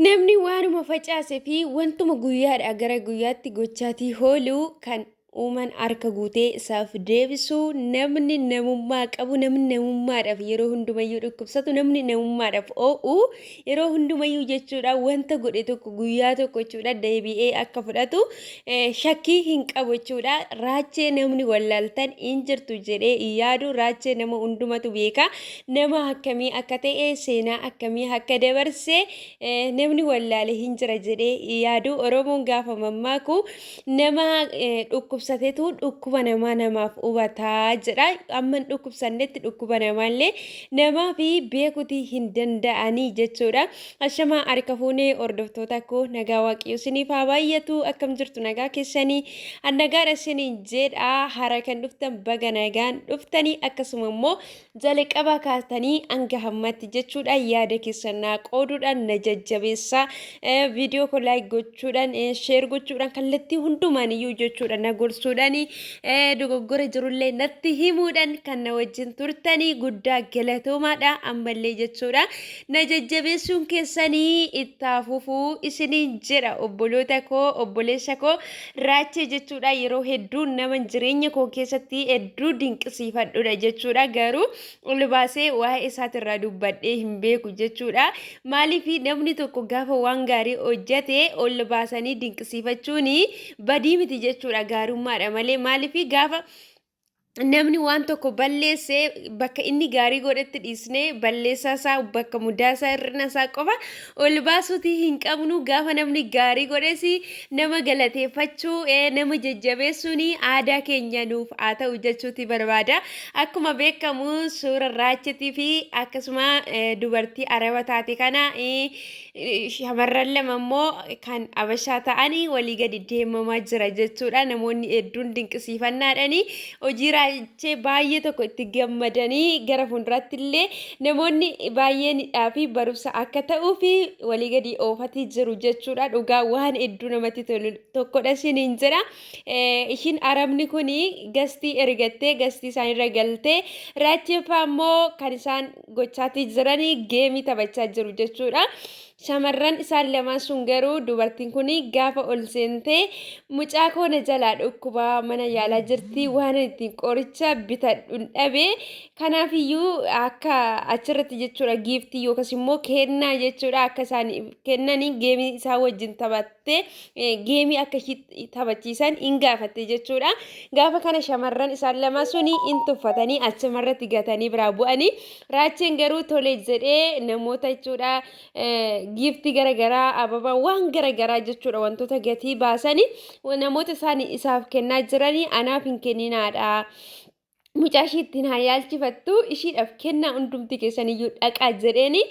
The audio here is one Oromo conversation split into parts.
Namni waanuma facaase fi wantuma guyyaadhaa gara guyyaatti gochaatii hooluu kan uuman harka guutee isaaf deebisu namni namummaa qabu namni namummaadhaaf yeroo hundumayyuu dhukkubsatu namni namummaadhaaf oo'u yeroo hundumayyuu jechuudha wanta godhe tokko guyyaa tokko jechuudha deebi'ee akka fudhatu eh, shakkii hin qabu jechuudha raachee namni wallaaltan hin jirtu jedhee hin yaadu raachee nama hundumatu beeka nama akkamii akka ta'e seenaa akkamii akka dabarse namni wallaale hin jira jedhee yaadu oromoon gaafa mammaaku nama dhukkubsatetu dhukkuba namaa namaaf hubataa jedha amman dhukkubsannetti dhukkuba namaallee namaa fi beekutii hin danda'anii jechuudha ashamaa harka fuunee hordoftoota koo nagaa waaqayyoo siniif haa baay'atu akkam jirtu nagaa keessanii annagaadha siniin jedha hara kan dhuftan baga nagaan dhuftanii akkasuma immoo Jalqabaa kaastanii hanga hammatti jechuudha yaada keessan naa qooduudhaan na jajjabeessa viidiyoo koo laayik gochuudhaan sheer gochuudhaan kallattii hundumaan iyyuu jechuudha na gorsuudhaan dogoggora jirullee natti himuudhaan kan na wajjin turtanii guddaa galatoomaadha ammallee jechuudha na jajjabeessuun keessanii itti fufuu isiniin jedha obboloota koo obboleessa koo Raachee jechuudha yeroo hedduu nama jireenya koo keessatti hedduu dinqisiifadhudha jechuudha garuu ol baasee waa'ee isaatirraa dubbadhee hin beeku jechuudha maaliif namni tokko gaafa waan gaarii hojjate ol baasanii dinqisiifachuun badii miti jechuudha gaarummaadha malee maaliif gaafa namni waan tokko balleesse bakka inni gaarii godhetti dhiisnee balleessaa isaa bakka mudaa isaa hir'ina isaa qofa ol baasuutii hin qabnu gaafa namni gaarii godhes nama galateeffachuu eh, nama jajjabeessuun aadaa keenya nuuf haa ta'u jechuuti barbaada akkuma beekamu suura raachitii fi akkasuma eh, dubartii araba taate kana eh, shamarran lama immoo kan abashaa ta'anii walii gadi deemamaa jira jechuudha. Namoonni hedduun dinqisiifannaadhani hojii raajee baay'ee tokko itti gammadanii gara fuulduraatti illee namoonni baay'eenidhaa fi barumsa akka ta'uu fi walii gadi oofatii jiru jechuudha. Dhugaa waan hedduu namatti tolu tokkodha isiniin jedha. Ishiin arabni kun gastii ergattee gastii isaanirra galtee raacheeffaa immoo kan isaan gochaatii jiranii geemii taphachaa jiru jechuudha. Shamarran isaan lamaan sun garuu dubartiin kun gaafa ol seentee mucaa koo na jalaa dhukkubaa mana yaalaa jirti waan ittiin qoricha bitadhuun dhabe kanaafiyyuu akka achirratti jechuudha giiftii yookas immoo kennaa jechuudha akka isaan kennanii geemii isaa wajjin taphattee geemii akka taphachiisan in gaafatte jechuudha. Gaafa kana shamarran isaan lama suni in tuffatanii achuma irratti gatanii biraa bu'anii raacheen garuu tole jedhee namoota jechuudha giiftii garagaraa ababaa waan garagaraa jechuudha wantoota gatii baasanii namoota isaan isaaf kennaa jiranii anaaf hin kenninaadha. mucaa ishii ittiin haa yaalchifattu ishiidhaaf kennaa hundumti keessaniyyuu dhaqaa jedheeni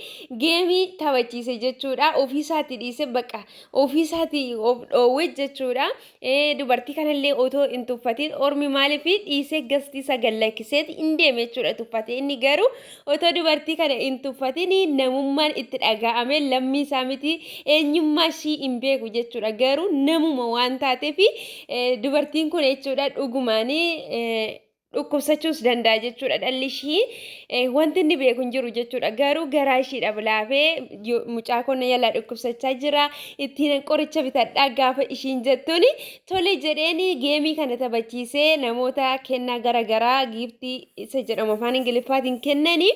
geemii taphachiise jechuudha ofiisaati dhiise baqa ofiisaati of dhoowwe jechuudha Eh, dubartii kanallee otoo hin tuffatiin ormi maaliif dhiisee gastiisa gallakkiseeti hin deeme jechuudha tuffate inni garuu Otoo dubartii kana hin tuffatini namummaan itti dhaga'ame lammii isaa miti eenyummaa ishii hin beeku jechuudha garuu namuma waan taateef dubartiin kun jechuudha dhugumaan dhukkubsachuus danda'a jechuudha dhalli ishii wanti inni beeku hin jiru jechuudha garuu garaa ishiidha bilaafee mucaa konna yalaa dhukkubsachaa jira ittiin qoricha bitadhaa gaafa ishiin jettuuni Tole jedheen geemii kana taphachiisee namoota kennaa gara garaa giiftii isa jedhamu afaan ingiliffaatiin kennanii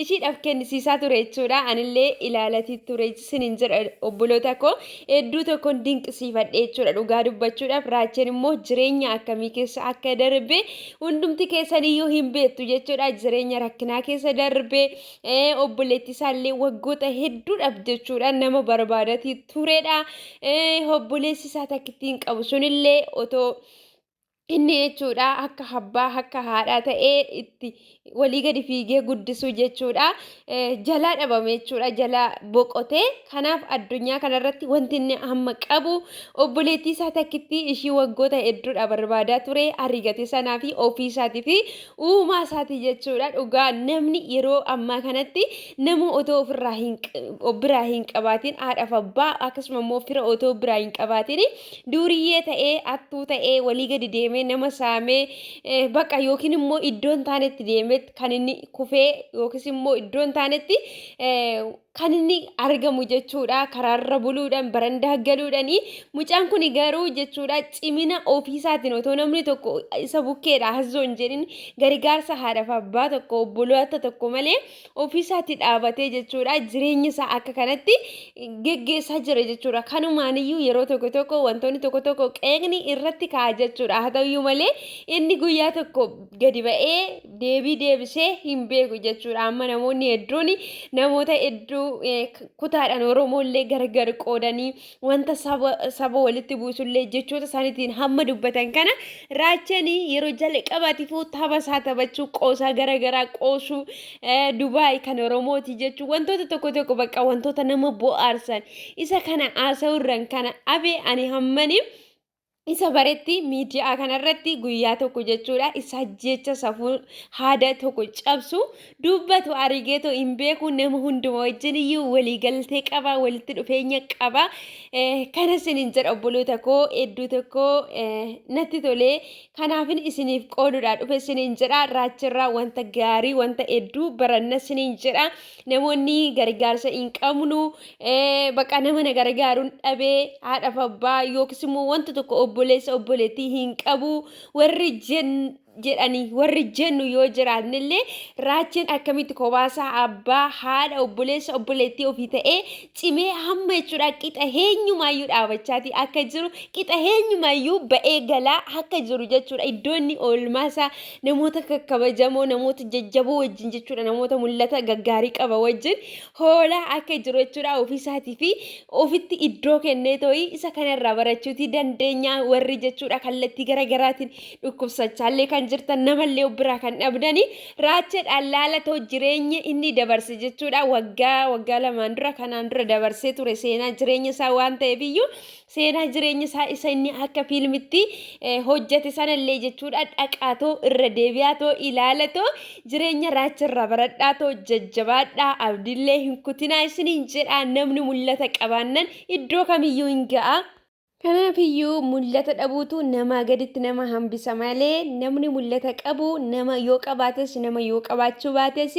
ishiidhaaf kennisiisaa ture jechuudha. Anillee ilaalatii ture sinin jedha obboloota koo hedduu tokkoon dinqisiifadhe jechuudha. Dhugaa dubbachuudhaaf raacheen immoo jireenya akkamii keessa akka darbe hundumti keessaniyyuu hin beektu jechuudha. Jireenya rakkinaa keessa darbe Eh, obboleetti isaallee waggoota hedduudhaaf jechuudhaan nama barbaadatii turedha. Eh, obboleessi isaa takkittiin qabu sunillee otoo inni jechuudha akka abbaa akka haadhaa ta'ee itti walii gadi fiigee guddisuu jechuudha Eh, jalaa dhabame jechuudha jalaa boqotee kanaaf addunyaa kanarratti wanti inni amma qabu obboleettii isaa takkittii ishii waggoota hedduudha barbaadaa ture arigate sanaa fi ofii isaatii fi uumaa isaati jechuudha dhugaa namni yeroo ammaa kanatti nama otoo ofirraa hin biraa hin qabaatiin haadhaaf abbaa akkasuma immoo fira otoo biraa hin qabaatiin duuriyyee ta'ee attuu ta'ee walii gadi deemee nama saamee baqa yookiin immoo iddoon taanetti deemetti kan inni kufee yookiis immoo iddoon taanetti kan inni argamu jechuudha karaarra buluudhaan barandaa galuudhaani mucaan kun garuu jechuudha cimina ofiisaatiin otoo namni tokko isa bukkeedha hazzoo hin jedhin gargaarsa haadhaaf abbaa tokko obboloota tokko malee ofiisaatti dhaabatee jechuudha jireenya isaa akka kanatti geggeessaa jira jechuudha kanumaaniyyuu yeroo tokko tokko wantoonni tokko tokko qeeqni irratti ka'a jechuudha haa ta'uyyuu malee inni guyyaa tokko gadi ba'ee deebii deebisee hin beeku jechuudha. Amma namoonni hedduun namoota hedduu kutaadhaan Oromoollee gargar qoodanii wanta saba walitti buusullee jechoota isaaniitiin hamma dubbatan kana raachanii yeroo jalqabaatiifuu tapha isaa taphachuu qoosaa garagaraa qoosuu Dubaay kan Oromooti jechuu wantoota tokko tokko bakka wantoota nama bohaarsan isa kana haasa'uurran kana afe ani hammanii. isa baretti miidiyaa kanarratti guyyaa tokko jechuudha isa jecha safuu haada tokko cabsu dubbatu arigeetoo hin beeku nama hunduma wajjin iyyuu waliigaltee qaba walitti dhufeenya qaba kana isiniin jedha obboloota koo hedduu tokko natti tolee kanaafin isiniif qoodudha dhufe isiniin jedha raachirraa wanta gaarii wanta hedduu baranna isiniin jedha namoonni gargaarsa hin qabnu baqa nama na gargaaruun dhabee haadhaaf abbaa yookiis immoo wanta tokko obboleessa obboleettii hin qabu warri jedhanii warri jennu yoo jiraannellee raacheen akkamitti kobaasaa abbaa haadha obboleessa obboleettii ofii ta'ee cimee hamma jechuudha qixa heenyumaayyuu dhaabachaatii akka jiru qixa heenyumaayyuu ba'ee galaa akka jiru jechuudha iddoo inni oolmaasaa namoota kakkabajamoo namoota jajjaboo wajjin jechuudha namoota mul'ata gaggaarii qaba wajjin hoolaa akka jiru jechuudha ofiisaatii fi ofitti iddoo kennee too'ii isa kanarraa barachuutii dandeenya warri jechuudha kallattii garaagaraatiin dhukkubsachaallee kan jirtan namallee of biraa kan dhabdanii Raacha dhallaala too jireenya inni dabarse jechuudha waggaa waggaa lamaan dura kanaan dura dabarsee ture seenaa jireenya isaa waan ta'eef iyyuu seenaa jireenya isaa isa inni akka fiilmitti eh, hojjate sanallee jechuudha dhaqaa too irra deebi'aa too ilaala too jireenya raacha irraa baradhaa too jajjabaadhaa abdillee hin kutinaa isiniin jedhaa namni mul'ata qabaannan iddoo kamiyyuu hin ga'a. Kanaafiyyuu mul'ata dhabuutu namaa gaditti nama hambisa malee namni mul'ata qabu nama yoo qabaates nama yoo qabaachuu baates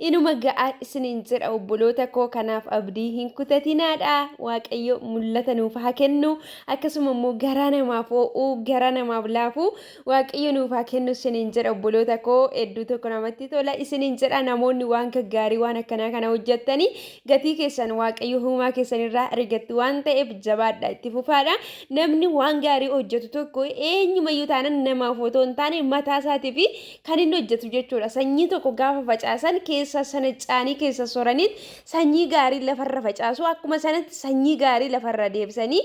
inuma ga'a isiniin jedha obboloota koo kanaaf abdii hin kutatinaadha waaqayyo mul'ata nuuf haa kennu akkasuma immoo garaa namaaf oo'uu garaa namaaf laafuu Waaqayyo nuuf haa kennu isiniin jedha obboloota koo hedduu tokko namatti tola isiniin jedha namoonni waan gaggaarii waan akkanaa kana hojjettanii gatii keessan waaqayyo huumaa keessan irraa argattu waan ta'eef jabaadha itti fufaadha namni waan gaarii hojjetu tokko eenyumayyuu taanan namaaf otoo hin taane mataa isaatii fi kan inni hojjetu jechuudha sanyii tokko gaafa facaasan keessa sana caanii keessa soraniit sanyii gaarii lafarra facaasu akkuma sanatti sanyii gaarii lafarra deebisanii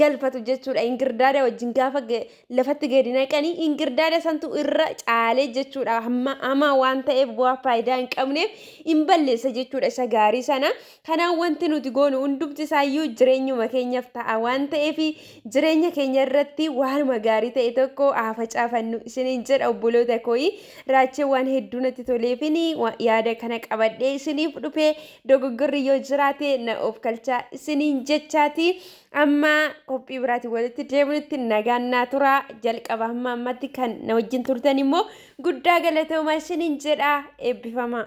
galfatu jechuudha. Ingirdaada wajjin gaafa lafatti gadi naqanii ingirdaada santu irra caalee jechuudha. Hamaa waan ta'eef bu'aa faayidaa hin qabneef hin balleessa jechuudha isa gaarii sana. Kanaan wanti nuti goonu hundumti isaayyuu jireenyuma keenyaaf ta'a waan ta'eef jireenya keenya irratti waanuma gaarii ta'e tokko haa facaafannu isiniin jedha obboloota kooyi. Raachee waan hedduu natti toleefin yaada kana qabadhee isiniif dhufee Dogoggorri yoo jiraate na oofkalchaa isiniin jechaati. Amma qophii biraatiin walitti deebinutti nagaan naa turaa. Jalqaba hamma ammatti kan na wajjin turtan immoo guddaa galatoomaa isiniin jedha eebbifamaa.